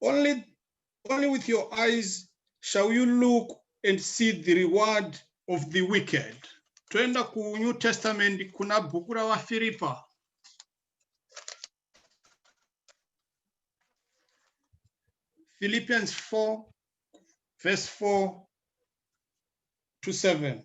only, only with your eyes shall you look and see the reward of the wicked toenda kunew testament kuna bhuku ravafiripa philippians 4 verse 4 to 7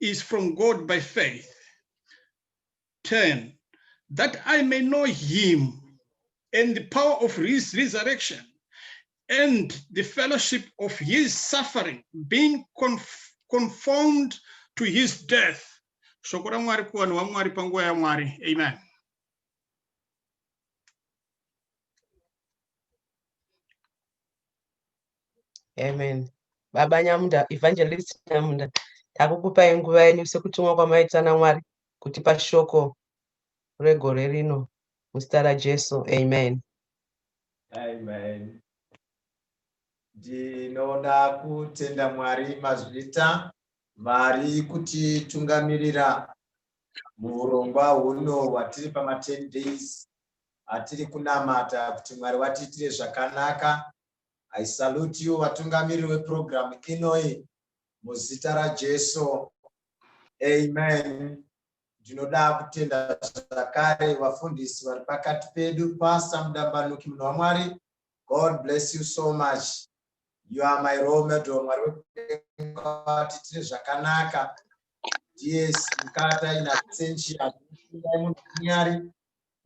is from God by faith. 10. That I may know him and the power of his resurrection and the fellowship of his suffering, being conf conformed to his death. Shoko raMwari kuvanhu vaMwari panguva yaMwari. Amen. amen baba nyamunda evangelist nyamunda takukupai nguva yenyu sekutumwa kwamaita namwari kuti pashoko regore rino muzita rajesu amen amen ndinoda kutenda mwari mazvita vari kutitungamirira muurongwa huno hwatiri pama 10 days atiri kunamata kuti mwari watiitire zvakanaka I salute you vatungamiri weprogram inoi muzita raJesu. Amen. Ndinoda kutenda zvakare vafundisi vari pakati pedu Pastor Mudambanuki munhu waMwari. God bless you so much. You are my role model Mwari wekudenga vati tine zvakanaka. Yes, mukata ina sentia munhu kunyari.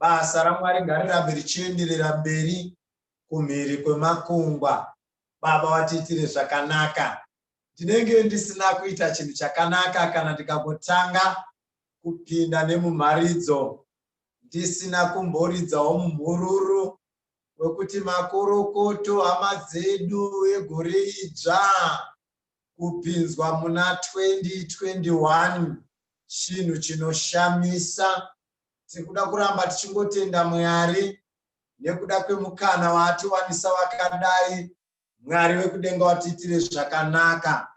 Basa raMwari ngarirambe richienderera mberi kumhiri kwemakungwa baba vatiitire zvakanaka ndinenge ndisina kuita chinhu chakanaka kana ndikangotanga kupinda nemumharidzo ndisina kumboridzawo mumhururu wekuti makorokoto hama dzedu egore idzva kupinzwa muna 2021 chinhu chinoshamisa tiri kuda kuramba tichingotenda mwari nekuda kwemukana waatiwanisa vakadai mwari vekudenga watiitire zvakanaka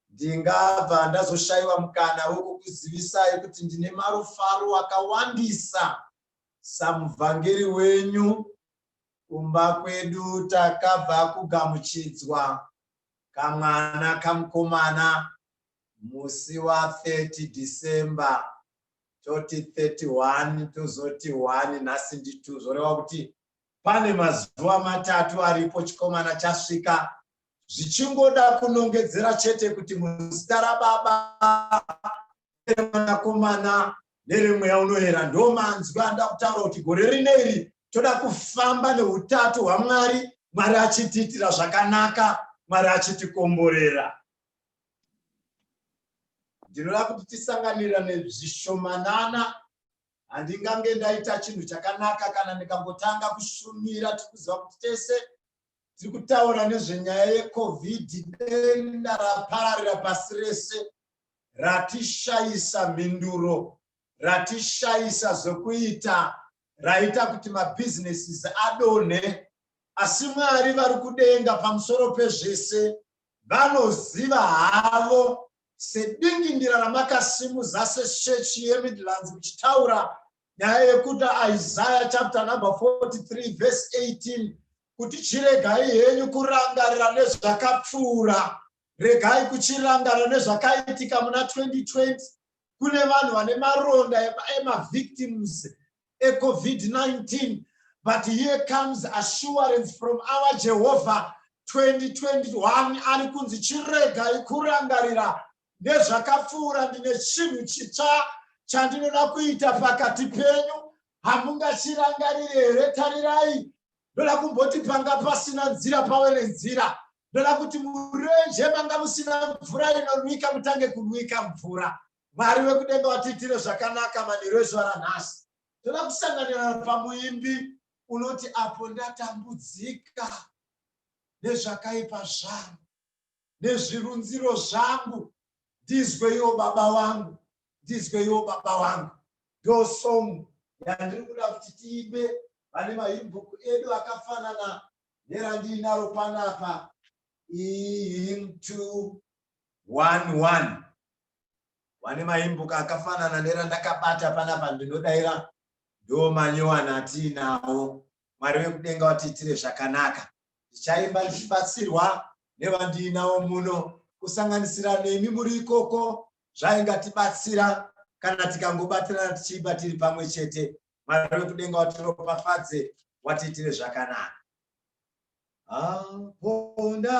ndingabva ndazoshayiwa mukana wekukuzivisai kuti ndine marufaro akawandisa samuvhangeri wenyu kumba kwedu takabva kugamuchidzwa kamwana kamukomana musi wa 30 december toti 31 tozoti 1 nhasi ndi 2 zvoreva kuti pane mazuva matatu aripo chikomana chasvika zvichingoda kunongedzera chete kuti muzita rababa mwanakomana neremweya unoyera ndo manzwi anoda kutaura kuti gore rine iri toda kufamba neutatu hwamwari mwari achitiitira zvakanaka mwari achitikomborera ndinoda kuti tisanganira nezvishomanana handingange ndaita chinhu chakanaka kana ndikangotanga kushumira tiri kuziva kuti tese tiri kutaura nezvenyaya yecovid denda rapararira pasi rese ratishayisa mhinduro ratishayisa zvokuita raita kuti mabhizinesis adonhe asi mwari vari kudenga pamusoro pezvese vanoziva havo sedingindira ramakasimudza seshechi yemidlands kuchitaura nyaya yekuti isaya chapter number 43 verse 18 kuti chiregai henyu kurangarira nezvakapfuura regai kuchirangarira nezvakaitika muna 2020 kune vanhu vane maronda emavictims eCovid-19 but here comes assurance from our Jehovah 2021 ari kunzi chiregai kurangarira nezvakapfuura ndine chinhu chitsva chandinoda kuita pakati penyu hamungachirangarire here tarirai ndoda kumboti panga pasina nzira pave nenzira ndoda kuti murenje manga musina mvura inonwika mutange kunwika mvura Mwari wekudenga watiitire zvakanaka manheru ezuva ranhasi. Toda kusanganira pamuimbi unoti apo ndatambudzika nezvakaipa zvangu nezvirunziro zvangu ndizweiwo baba wangu ndizweiwo baba wangu ndo song yandiri kuda kuti tiimbe vane mahimbhuku edu akafanana nerandiinaro panapa ihim two one one vane maimbuka akafanana nerandakabata panapa ndinodaira ndo manyowana atiinawo mwari vekudenga vatiitire zvakanaka ndichaimba ndichibatsirwa nevandiinawo muno kusanganisira nemi muri ikoko zvaingatibatsira kana tikangobatirana tichiimba tiri pamwe chete mwari vekudenga vatiropafadze watiitire zvakanaka aponda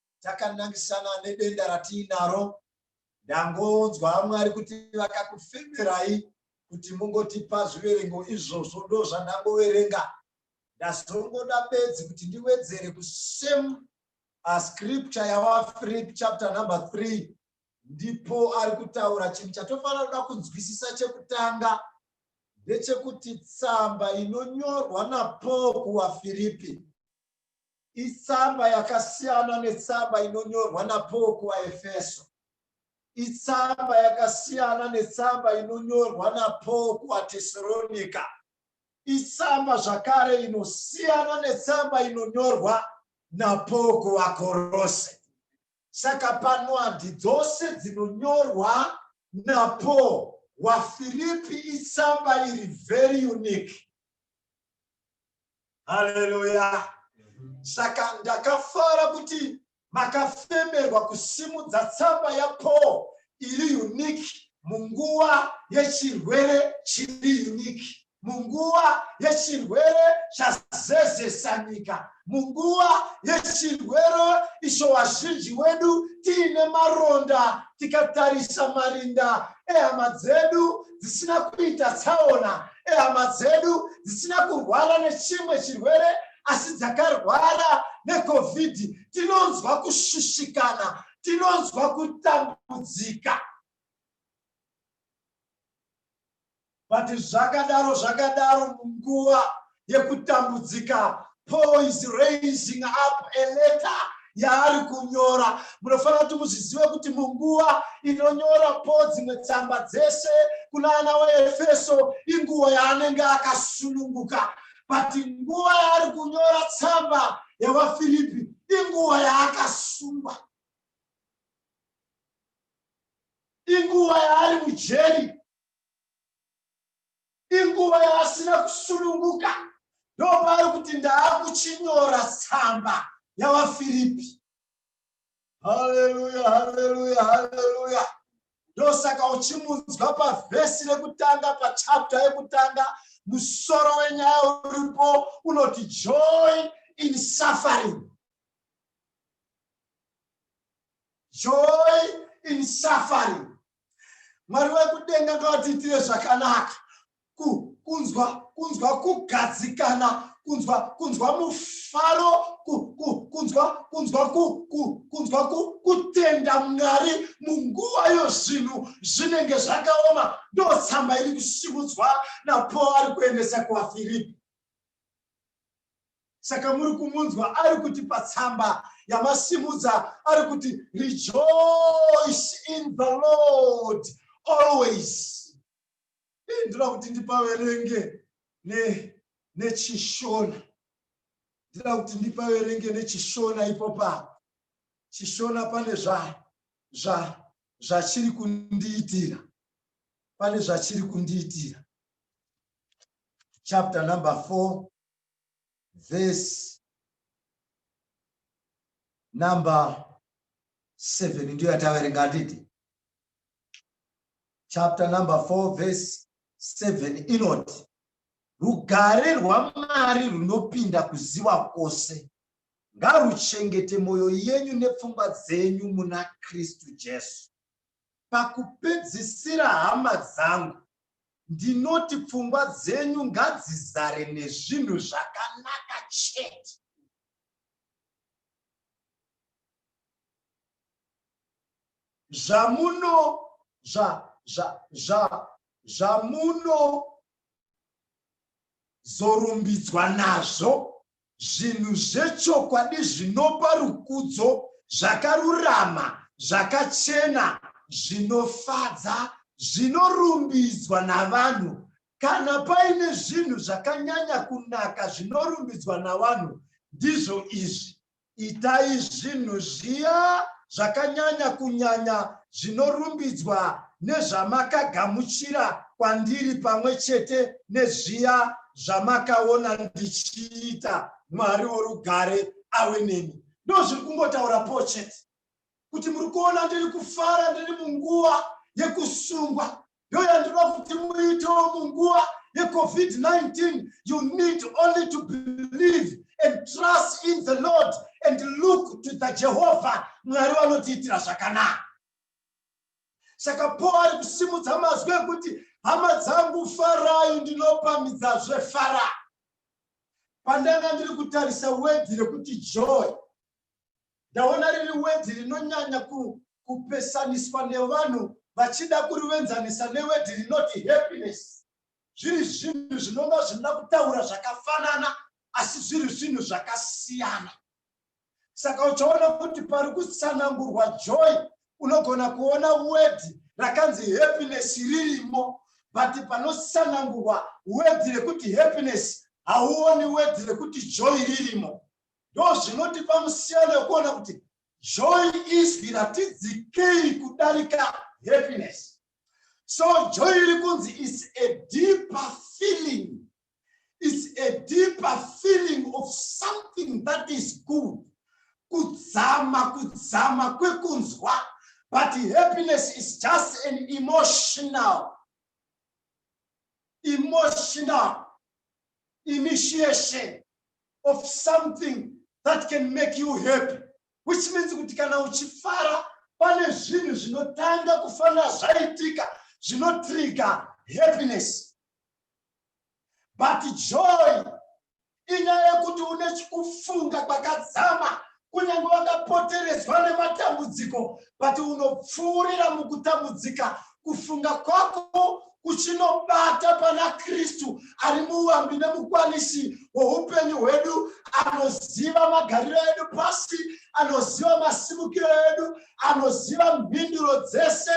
takanangisana nedenda ratiinaro ndangonzwa vamwe ari kuti vakakufemerai kuti mungotipa zviverengo izvozvo ndo zvandangoverenga ndazongoda bedzi kuti ndiwedzere kusame uh, scripture yawafrip chapter number three ndipo ari kutaura chinhu chatofanira kuda kunzwisisa chekutanga ndechekuti tsamba inonyorwa napaul kuwafiripi Itsamba yakasiyana netsamba inonyorwa naPaul kuvaEfeso. Itsamba yakasiyana netsamba inonyorwa naPaul kuvaTesaronika. Itsamba zvakare inosiyana netsamba inonyorwa naPaul kuvaKorose. Saka pano handi dzose dzinonyorwa naPaul. WaFiripi itsamba iri very unique. haleluya saka ndakafara kuti makafemerwa kusimudza tsamba yapaul iri uniki munguva yechirwere chiri uniki munguva yechirwere chazezesa nyika munguva yechirwere icho vazhinji wedu tiine maronda tikatarisa marinda ehama dzedu dzisina kuita tsaona ehama dzedu dzisina kurwara nechimwe chirwere asi dzakarwara necovid tinonzwa kushushikana tinonzwa kutambudzika but zvakadaro zvakadaro munguva yekutambudzika paul is raising up a letter yaari kunyora munofanira kuti muzvizive kuti munguva inonyora po dzimwe tsamba dzese kuna ana waefeso inguva yaanenge akasununguka but nguva yaari kunyora tsamba yevafiripi inguva yaakasungwa inguva yaari mujeri Inguva yaasina kusununguka ndopaari kuti ndaakuchinyora tsamba yavaFiripi. Haleluya, haleluya, haleluya. Ndosaka uchimunzwa pavhesi rekutanga pachapta yekutanga musoro wenyaya uripo unoti joy in suffering. Joy in suffering. mwari wekudenga ngavatiitire zvakanaka kunzwa kunzwa kugadzikana kunzwa kunzwa mufaro kunzwa kunzwa kunzwa kutenda mwari munguva yo zvinhu zvinenge zvakaoma ndotsamba iri kusimudzwa napo ari kuendesa kuvafiripi saka muri kumunzwa ari kuti patsamba yamasimudza ari kuti rejoice in the lord always ndinoda kuti ndipaverenge nechishona ndinoda kuti ndipaverenge nechishona ipopa chishona pane zvachiri kundiitira pane zvachiri kundiitira chapter number four verse number 7 ndiyo yataverenga handiti chapter number 4 verse 7 inoti rugare rwamwari runopinda kuziva kwose ngaruchengete mwoyo yenyu nepfungwa dzenyu muna kristu jesu Pakupedzisira hama dzangu, ndinoti pfungwa dzenyu ngadzizare nezvinhu zvakanaka chete. Zvamuno zva zva zva zvamuno zorumbidzwa nazvo Zvinhu zvechokwadi zvinopa rukudzo, zvakarurama, zvakachena, zvinofadza, zvinorumbidzwa navanhu. Kana paine zvinhu zvakanyanya kunaka zvinorumbidzwa navanhu, ndizvo izvi, Itai zvinhu zviya zvakanyanya kunyanya zvinorumbidzwa nezvamakagamuchira kwandiri pamwe chete nezviya zvamakaona ndichiita, Mwari worugare awe nemi. Ndozviri kungotaura Paul chete, kuti muri kuona ndiri kufara ndiri munguva yekusungwa ndiyo yandinoda kuti muitewo munguva yecovid-19 you need only to believe and trust in the lord and look to the jehovha mwari vanotiitira zvakanaka saka paul ari kusimudza mazwi ekuti hama dzangu farai ndinopamidzazve fara pandanga ndiri kutarisa wedhi rekuti joy ndaona riri wedhi rinonyanya kupesaniswa nevanhu vachida kurivenzanisa newedhi rinoti happiness zviri zvinhu zvinonga zvinoda kutaura zvakafanana asi zviri zvinhu zvakasiyana saka uchaona kuti pari kutsanangurwa joy unogona kuona wedhi rakanzi happiness ririmo but panotsanangurwa wedhi rekuti happiness hauoni wedhi rekuti joy ririmo Ndozvinotipa musiyano wekuona kuti joy izwi ratidzikei kudarika happiness. So joy iri kunzi is a deeper feeling. It's a deeper feeling of something that is good. Kudzama, kudzama kwekunzwa. But happiness is just an emotional. Emotional. initiation of something that can make you happy which means kuti kana uchifara pane zvinhu zvinotanga kufanira zvaitika zvinotrigger happiness but joy inyaya yekuti une kufunga kwakadzama kunyange wakapoteredzwa nematambudziko but unopfuurira mukutambudzika kufunga kwako kuchinobata pana kristu ari muambi nemukwanisi woupenyu hwedu anoziva magariro edu pasi anoziva masimukiro edu anoziva mhinduro dzese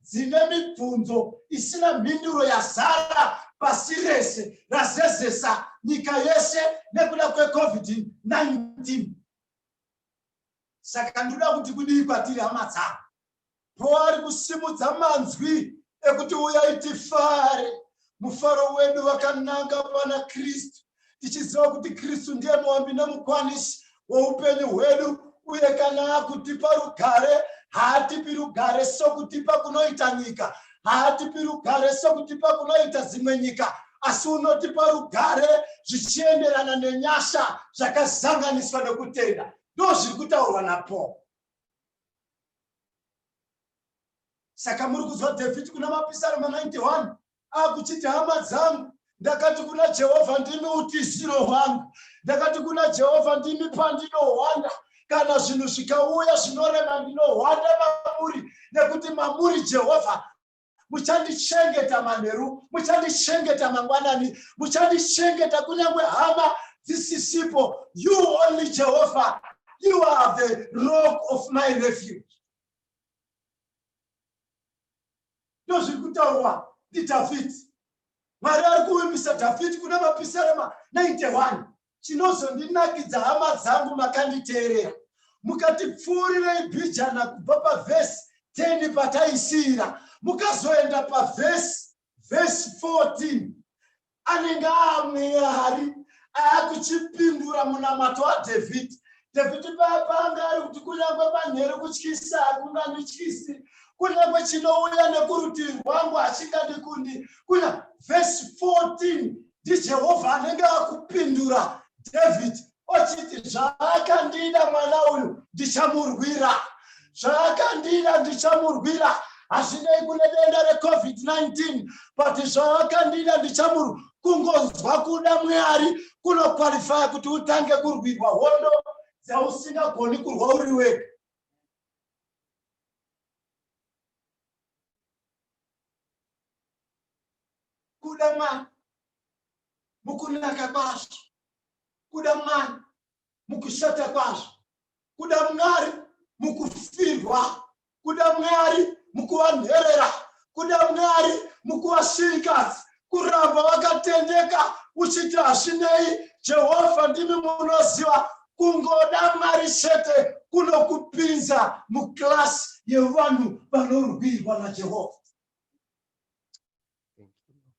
dzine mibvunzo isina mhinduro yazara pasi rese razezesa nyika yese nekuda kwecovid-19 saka ndinoda kuti kudii kwatiri hama dzangu poari kusimudza manzwi ekuti uyai tifare mufaro wedu wakananga pana kristu tichiziva kuti kristu ndiye muambi nemukwanisi woupenyu hwedu uye kana akutipa rugare haatipi rugare sokutipa kunoita nyika haatipi rugare sokutipa kunoita dzimwe nyika asi unotipa rugare zvichienderana nenyasha zvakazanganiswa nekutenda ndo zviri kutaurwa napaul saka muri kuzwa david kuna mapisarema 91 akuchiti hama dzangu ndakati kuna jehovha ndimi utiziro hwangu ndakati kuna jehovha ndimi pandinohwanda kana zvinhu zvikauya zvinorema ndinohwanda mamuri nekuti mamuri jehovha muchandichengeta manheru muchandichengeta mangwanani muchandichengeta kunyange hama dzisisipo you only jehovha you are the rock of my refuge Ndozviri kutaurwa ndiDhavhidhi. Mwari ari kuvimbisa Dhavhidhi kuna mapisarema 91. Chinozondinakidza hama dzangu makanditeerera mukatipfuurirei bijana kubva pavhesi 10 pataisiira mukazoenda pavhesi vhesi 14 anenge aamweya hari aakuchipindura munamato wadhavhidhi dhavhidhi paya paanga ari kuti kunyange manheru kutyisa hakungandityisi kunyange chinouya nekurutivi rwangu hachingandikundi kunya vhesi 14 ndijehovha anenge akupindura dhavhidhi ochiti zvaakandida mwana uyu ndichamurwira zvaakandida ndichamurwira hazvinei kune denda recovid-19 but zvaakandida ndichamurwira kungonzwa kuda mwari kunokwalifaya kuti utange kurwirwa hondo dzausingagoni kurwa uri wega kuda mwari mukunaka kwazvo kuda mwari mukushata kwazvo kuda mwari mukufirwa kuda mwari mukuvanherera kuda mwari mukuvashirikadzi kuramba vakatendeka uchiti hazvinei jehovha ndimi munoziva kungoda mwari chete kunokupinza muklasi yevanhu vanorwirwa najehovha Thank you, Lord.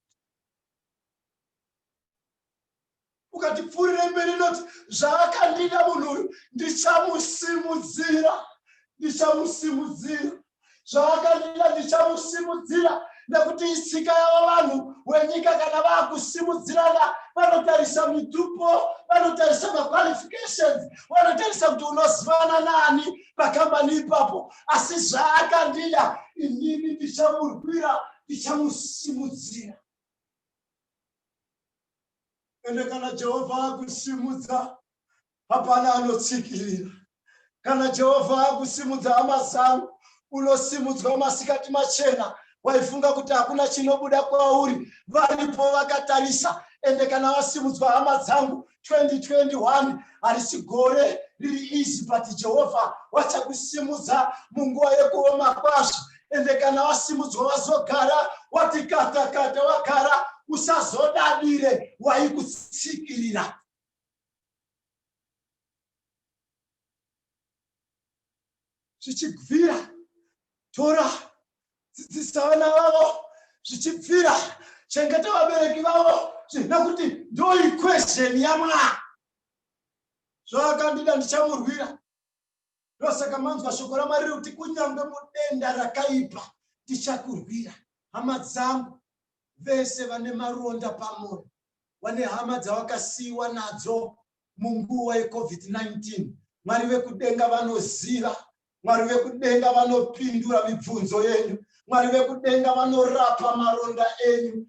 ukatipfuurira mberi inoti zvaakandida munhu uyu ndichamusimudzira ndichamusimudzira zvaakandida ndichamusimudzira nekuti itsika yavo vanhu wenyika kana vaakusimudzirana vanotarisa mitupo vanotarisa maqualifications vanotarisa kuti unozivana nani pakambani ipapo asi zvaakandida inini ndichamurwira ndichamusimudzira ende kana jehovha akusimudza hapana anotsikirira kana jehovha akusimudza hama zangu unosimudzwa masikati machena waifunga kuti hakuna chinobuda kwauri varipo vakatarisa ende kana vasimudzwa hama dzangu 2021 harisi gore riri izi but jehovha wachakusimudza munguva yekuoma kwazvo ende kana vasimudzwa vazogara wati kata kata wagara usazodadire waikutsikirira zvichibvira tora dzidzisa vana vavo zvichibvira chengeta vabereki vavo nekuti ndo equation yamwaa zvaakandida ndichamurwira ndosaka manzwa shoko ramwari riri kuti kunyange mudenda rakaipa ndichakurwira hama dzangu vese vane maronda pamwoyo vane hama dzavakasiyiwa nadzo munguva yeCovid-19. Mwari vekudenga vanoziva, Mwari vekudenga vanopindura mibvunzo yenyu, Mwari vekudenga vanorapa maronda enyu.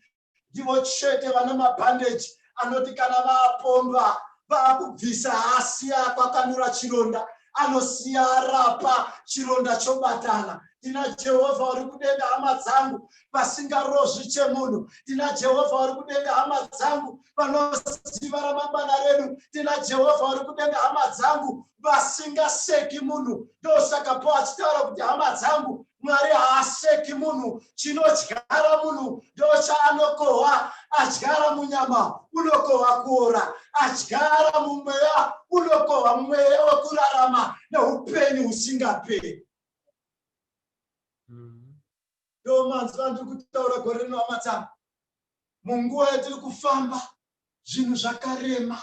Ndivo chete vana mabhandeji anoti kana vapomba vakubvisa hasi akwakanura chironda anosiya arapa chironda chobatana tina jehovha uri kudenga hama dzangu vasingarozvi chemunhu tina jehovha uri kudenga hama dzangu vanoziva ramangwana redu tina jehovha vari kudenga hama dzangu vasingaseki munhu ndosaka po achitaura kuti hama dzangu mwari haaseki munhu chinodyara munhu ndochaanokohwa adyara munyama unokohwa kuora adyara mumweya unokohwa mweya wekurarama neupenyu husingaperi ndo manzwa andiri kutaura gore rino amatama munguva yatiri kufamba zvinhu zvakarema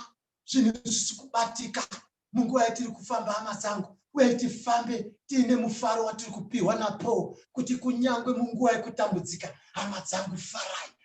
zvinhu zvisi kubatika munguva yatiri kufamba hama dzangu uye tifambe tiine mufaro watiri kupiwa napaul kuti kunyange munguva yekutambudzika hama dzangu farai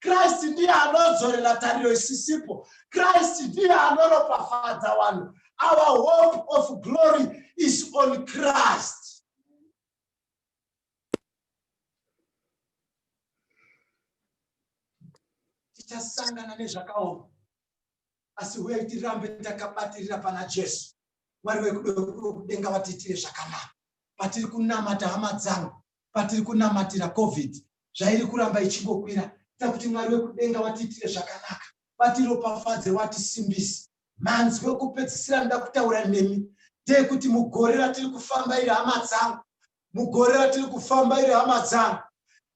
Christ ndiye anodzorera tariro isisipo. Christ ndiye anoropafadza vanhu. Our hope of glory is on Christ. Tichasangana nezvakaoma asi huyai tirambe takabatirira pana Jesu. Mwari vekudenga vatiitire zvakanaka patiri kunamata hama dzangu patiri kunamatira Covid zvairi kuramba ichingokwira. Ita kuti Mwari wekudenga vatiitire zvakanaka, vatiropafadze, vatisimbise. Manzwi okupedzisira anoda kutaura nemi ndeyekuti mugore ratiri kufamba iri hama dzangu, mugore ratiri kufamba iri hama dzangu,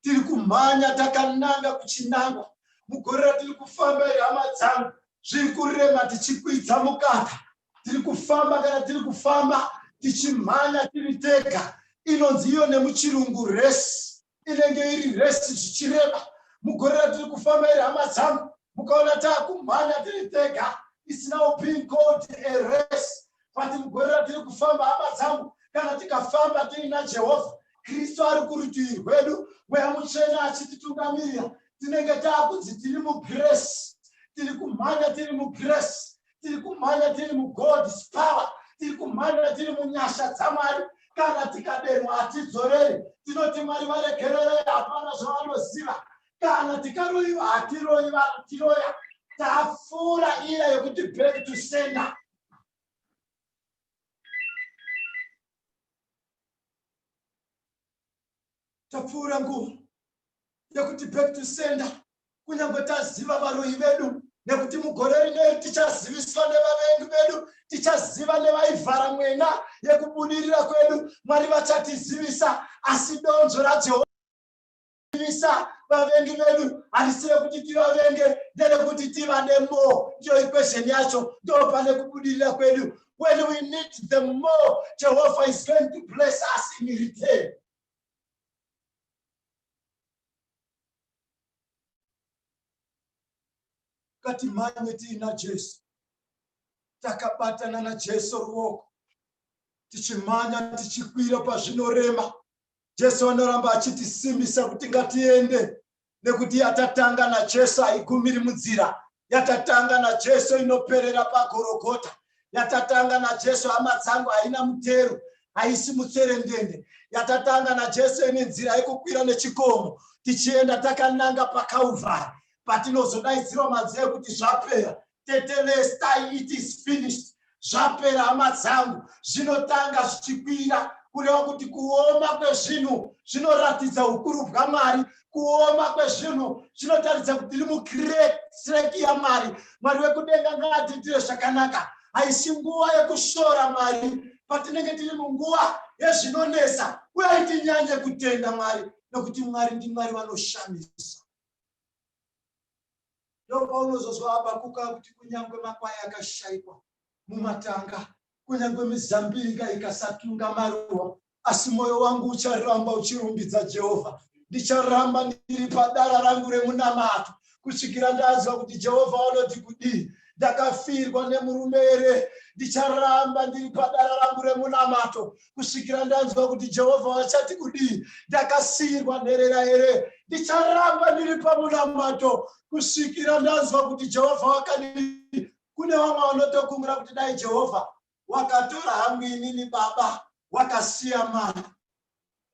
tiri kumhanya takananga kuchinangwa. Mugore ratiri kufamba iri hama dzangu, zviri kurema tichikwidza mukaka, tiri kufamba kana tiri kufamba tichimhanya tiri tega inonzi iyo nemuchirungu resi inenge iri resi zvichireba mugore ratiri kufamba iri hama dzangu mukaona taakumhanya tiri tega isinawo pin code eresi but mugore ratiri kufamba hama dzangu kana tikafamba tiina jehovha kristu ari kurutivi rwedu mweya mutsvene achititungamirira tinenge taakunzi tiri mugresi tiri kumhanya tiri mugresi tiri kumhanya tiri mugod's power tiri kumhanya tiri munyasha dzamwari kana tikadenwa hatidzoreri tinoti mwari varegererei hapana zvavanoziva kana tikaroyiwa hatiroyi vatiroya tafura ira yekuti back to sender tapfuura nguva yekuti back to sender kunyange taziva varoyi vedu nekuti mugore rineri tichaziviswa nevavengi vedu tichaziva nevaivhara mwena yekubudirira kwedu mwari vachatizivisa asi donzvo rajehovha ivisa vavengi vedu harisi rekuti tivavenge nderekuti tivade mo ndiyo ikwezheni yacho ndopane kubudirira kwedu when we need the more Jehovah is going to bless us in return. Kati mhanye tiina Jesu, takabatana na Jesu ruoko, tichimhanya tichikwira pazvinorema. Jesu anoramba achitisimbisa kuti ngatiende, nekuti yatatanga najesu haigumiri munzira yatatanga najesu inoperera pagorogota yatatanga najesu hama dzangu haina mutero haisi mutserendende yatatanga najesu ine nzira yekukwira nechikomo tichienda takananga pakauvhari patinozodaidzirwa manzira ekuti zvapera tetelestai it is finished zvapera hama dzangu zvinotanga zvichikwira kureva kuti kuoma kwezvinhu zvinoratidza ukuru bwamwari kuoma kwezvinhu zvinotaridza kuti tiri mukreki yamwari mwari wekudenga ngaatiitire zvakanaka haisi nguva yekushora mwari patinenge tiri munguva yezvinonesa uye itinyanye kutenda mwari nokuti mwari ndimwari vanoshamisa ndopaunozozwa habakuka kuti kunyange makwai akashaikwa mumatanga kunyange mizambiringa ikasatunga maruwa asi mwoyo wangu ucharamba uchirumbidza jehovha ndicharamba ndiri padara rangu remunamato kusvikira ndaziva kuti jehovha vanoti kudii ndakafirwa nemurume here ndicharamba ndiri padara rangu remunamato kusvikira ndanzwa kuti jehovha vachati kudii ndakasiyirwa nherera here ndicharamba ndiri pamunamato kusvikira ndanzwa kuti jehovha wakadii kune vamwe vanotokumbira kuti dai jehovha wakatora hangu inini baba wakasiya mari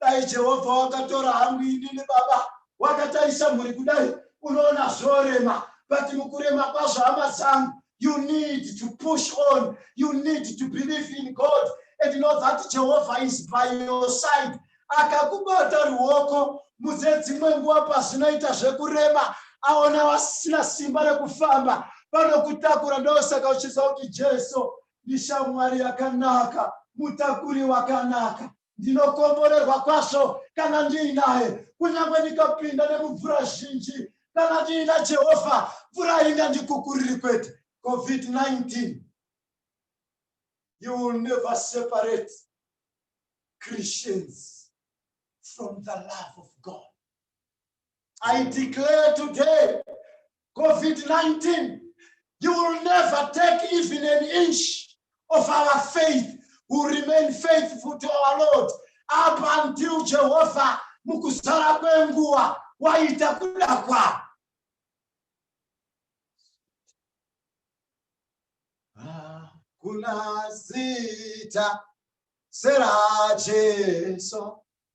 dai jehovha wakatora hangu inini baba wakatarisa mhuri kudai unoona zvorema but mukurema kwazvo hama dzangu you need to push on you need to believe in god and know that jehovah is by your side akakubata ruoko muze dzimwe nguva pazvinoita zvekurema aona vasina simba rekufamba vanokutakura ndosaka uchiziva kuti jesu ndishamwari yakanaka mutakuri wakanaka Ndinokomborerwa kwazvo kana ndiinaye, kunyange ndikapinda nemumvura zhinji. Kana ndiina Jehovha, mvura haingandikukuriri kwete. COVID-19. You will never separate Christians from the love of God. I declare today COVID-19, you will never take even an inch of our faith. We'll remain faithful to our Lord up until Jehovah mukusara kwenguva waita kuda kwavo. Hakuna zita sera Jesu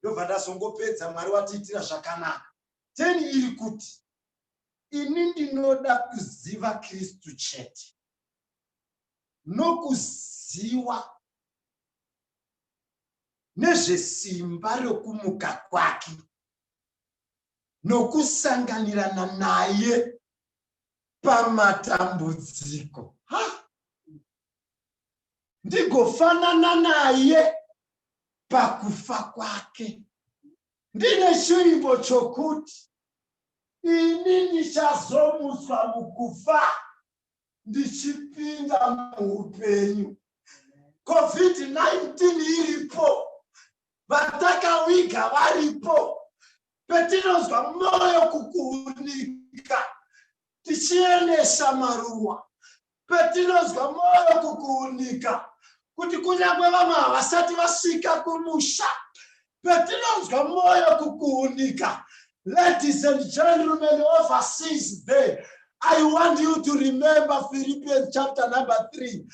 ndobva ndazongopedza mwari watiitira zvakanaka ten iri kuti ini ndinoda kuziva kristu chete nokuziwa nezvesimba rokumuka kwake nokusanganirana naye pamatambudziko ndigofanana naye pakufa kwake ndine chiimbo chokuti ini ndichazomutswa mukufa ndichipinda muupenyu covid-19 iripo vatakawiga varipo petinonzwa mwoyo kukuunika tichienesa maruwa Patinonzwa mwoyo kukuunika kuti kunyange vamwe havasati vasvika kumusha, patinonzwa mwoyo kukuunika, ladies and gentlemen overseas there, I want you to remember Philippians chapter number 3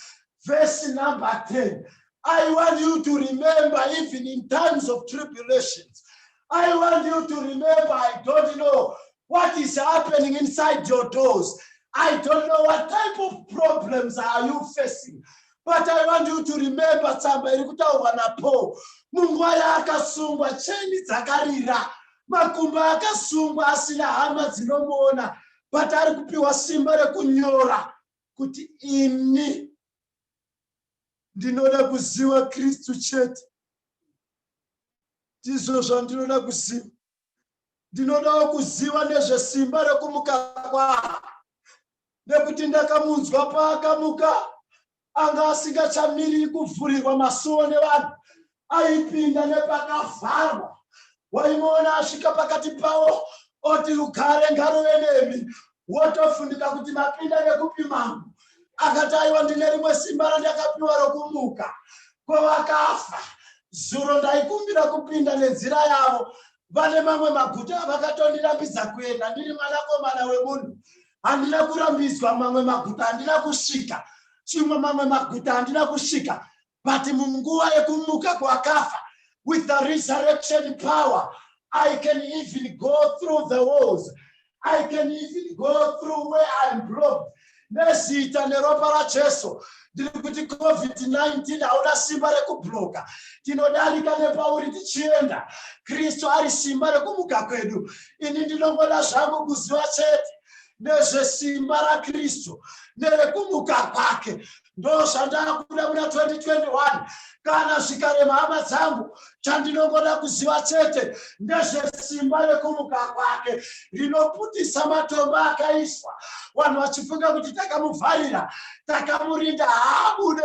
verse number 10. I want you to remember, even in times of tribulations, I want you to remember, I don't know what is happening inside your doors. I don't know what type of problems are you facing. But I want you to remember tsamba iri kutaurwa naPaul. Munguva yaakasungwa, cheni dzakarira, makumbo akasungwa asina hama dzinomuona, but ari kupiwa simba rekunyora kuti ini Ndinoda kuziva Kristu chete. Ndizvo zvandinoda kuziva. Ndinodawo kuziva nezvesimba rekumuka kwake, nekuti ndakamunzwa paakamuka anga asingachamiri kuvhurirwa masuo nevanhu, aipinda nepakavharwa waimuona asvika pakati pavo oti rugare ngaruve nemi wotofunika kuti mapinda nekupi mambo akati aiwa ndine rimwe simba randakapiwa rokumuka kwevakafa zuro ndaikumbira kupinda nenzira yavo vane mamwe maguta avakatondirambidza kuenda ndiri mwanakomana wemunhu handina kurambidzwa mamwe maguta handina kusvika chimwe mamwe maguta handina kusvika But munguva yekumuka kwakafa, with the resurrection power, I can even go through the walls. I can even go through where I'm blocked. Nezita neropa raJesu ndiri kuti covid-19 hauna simba rekubloka tinodarika nepauri tichienda kristu ari simba rekumuka kwedu ini ndinongoda zvangu kuziva chete nezvesimba rakristu nerekumuka kwake ndozvandakuda muna 2021 kana zvikarema hama dzangu chandinongoda kuziva chete ndezvesimba rekumuka kwake rinoputisa matombo akaiswa vanhu vachifunga kuti takamuvharira takamurinda haabude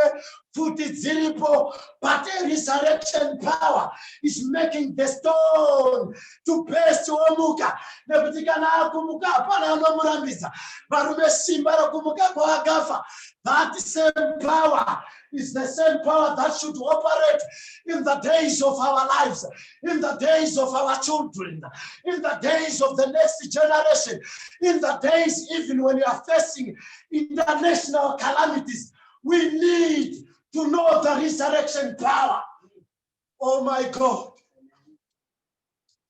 pfuti dziripo but resurrection power is making the stone to best omuka nekuti kana akumuka hapana anomurambidza varume simba rokumuka kwaakafa that same power is the same power that should operate in the days of our lives in the days of our children in the days of the next generation in the days even when you are facing international calamities we need to know the resurrection power oh my god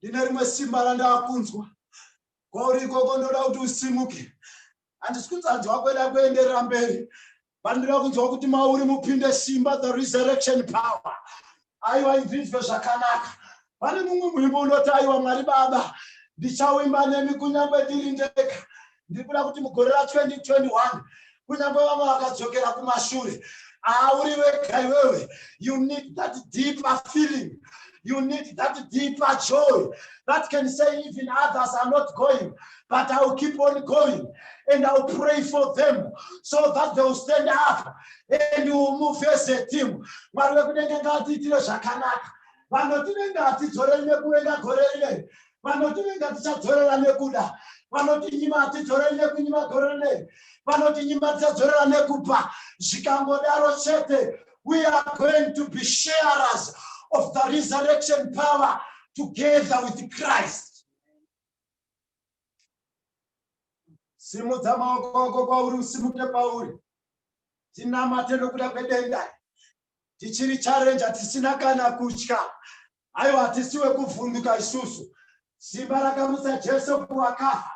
ndine rimwe simba randaakunzwa kwauri ikoko ndoda kuti usimuke handisi kunzanzwa kweda kuenderera mberi vandira kunzwa kuti mauri mupinde simba the resurrection power aiwa ibvinzwe zvakanaka pane mumwe muimbo unoti aiwa mwari baba ndichawimba nemi kunyange ndiri ndega ndiri kuda kuti mugore ra 2021 kunyangwe vamwe vakadzokera kumashure auri wega iwewe you need that deeper feeling you need that deeper joy that can say even others are not going but i will keep on going and i will pray for them so that they will stand up and you will move as a team mwari vekudenge ngatiitire zvakanaka vanoti vengatidzoreine kuenda gore rinei vanotivinga tichadzorera nekuda vanotinyima hatidzoreri nekunyima gorene vanotinyima tichadzorera nekupa zvikangodaro chete we are going to be sharers of the resurrection power together with christ simudza maoko ako kwauri usimuke pauri tinamate nokuda kwedenda tichiri charenja tisina kana kutya Aiwa, hatisi wekuvhunduka isusu. Simba rakamutsa Jesu kuvakafa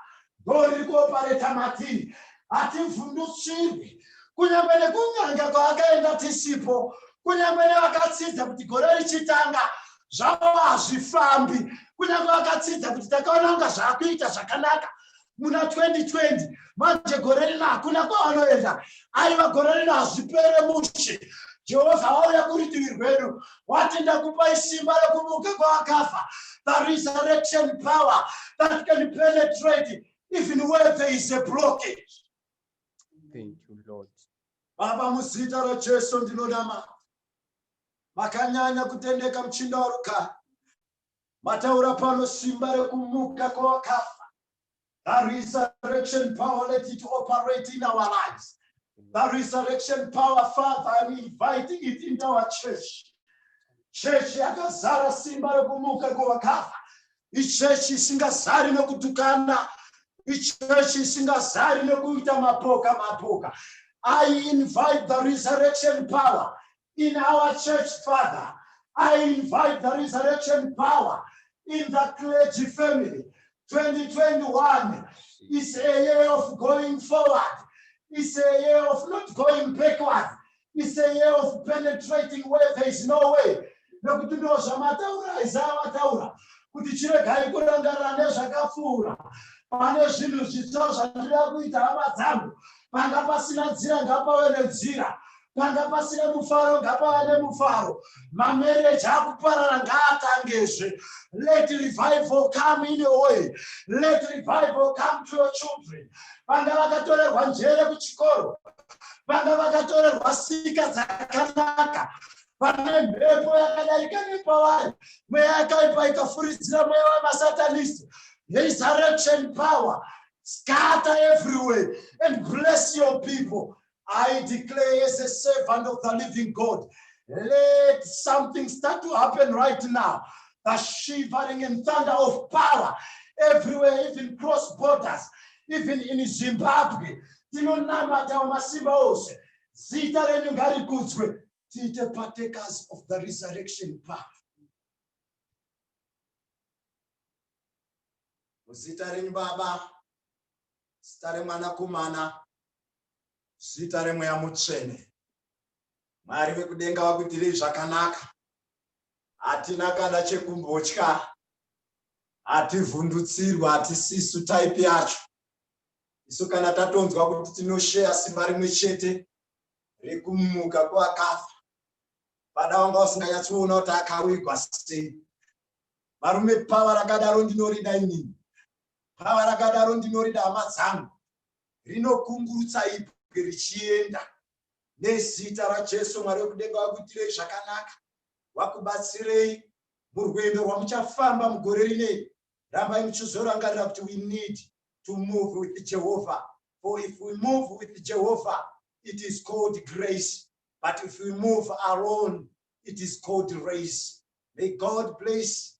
ndoriri kuopareta Martin. Hativhundutsirwi, kunyange nekun'anga kwaakaenda tisipo, kunyange nevakatsidza kuti gore richitanga zvavo hazvifambi, kunyange vakatsidza kuti takaona kunga zvaakuita zvakanaka, muna 2020 manje gore rino hakuna kwavanoenda aiva gore rino hazvipere mushe jehovha wauya kuritivi rwedu wati ndakupai simba rekumuka kwavakafa the resurrection power that can penetrate even where there is a blockage Thank you, Lord. baba muzita rajesu ndinonamata makanyanya kutendeka muchinda warugari mataura pano simba rekumuka kwevakafa the resurrection power let it operate in our lives the resurrection power father i'm inviting it into our church chechi yakazara simba rekumuka kwevakafa ichechi isingazari nekutukana ichechi isingazari nekuita mapoka mapoka i invite the resurrection power in our church father i invite the resurrection power in the clergy family 2021 is a year of going forward is a year of not going backward is a year of penetrating where there is no way nekuti ndo zvamataura isaya vataura kuti chiregai kurangarira nezvakapfuura pane zvinhu zvitsva zvandida kuita hama dzangu panga pasina nzira ngapave nenzira panga pasina mufaro ngapava nemufaro mamereji akuparara ngaatangezve let revival come in your way let revival come to your children vanga vakatorerwa njere kuchikoro vanga vakatorerwa sika dzakanaka pane mhepo yakadarika nepavari mweya yakaipa ikafuridzira mweya wemasatanist resurrection power scatter everywhere and bless your people I declare as a servant of the living God, let something start to happen right now. The shivering and thunder of power everywhere, even cross borders, even in Zimbabwe. Tinonamata masimba ose. Zita renyu ngarikudzwe. Tiite partakers of the resurrection power. Zita renyu Baba, zita remwanakomana, Zita remweya mutsvene. Mwari vekudenga vakuitirei zvakanaka. Hatina kana chekumbotya. Hativhundutsirwa hatisisu type yacho. Isu kana tatonzwa kuti tinosheya simba rimwe chete rekumuka kwakafa pada wanga usinganyatsoona kuti akawigwa sei varume pava rakadaro ndinorida inini pava rakadaro ndinorida hama dzangu rinokungurutsa ibwe richienda nezita rajesu mwari wekudenga wakuitirei zvakanaka wakubatsirei murwendo rwamuchafamba mugore rinei rambai muchizorangarira kuti we need to move with jehovha for if we move with jehovha it is called grace but if we move alone it is called race may god bless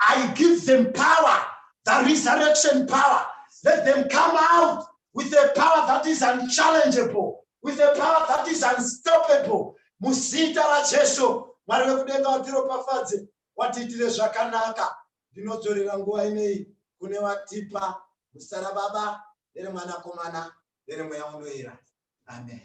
I give them power, the resurrection power. Let them come out with a power that is unchallengeable, with a power that is unstoppable. Muzita raJesu, Mwari vekudenga vatiropafadze, watiitire zvakanaka. Ndinodzorera nguva inei kune watipa muzita raBaba, nereMwanakomana, nereMweya Unoera. Amen.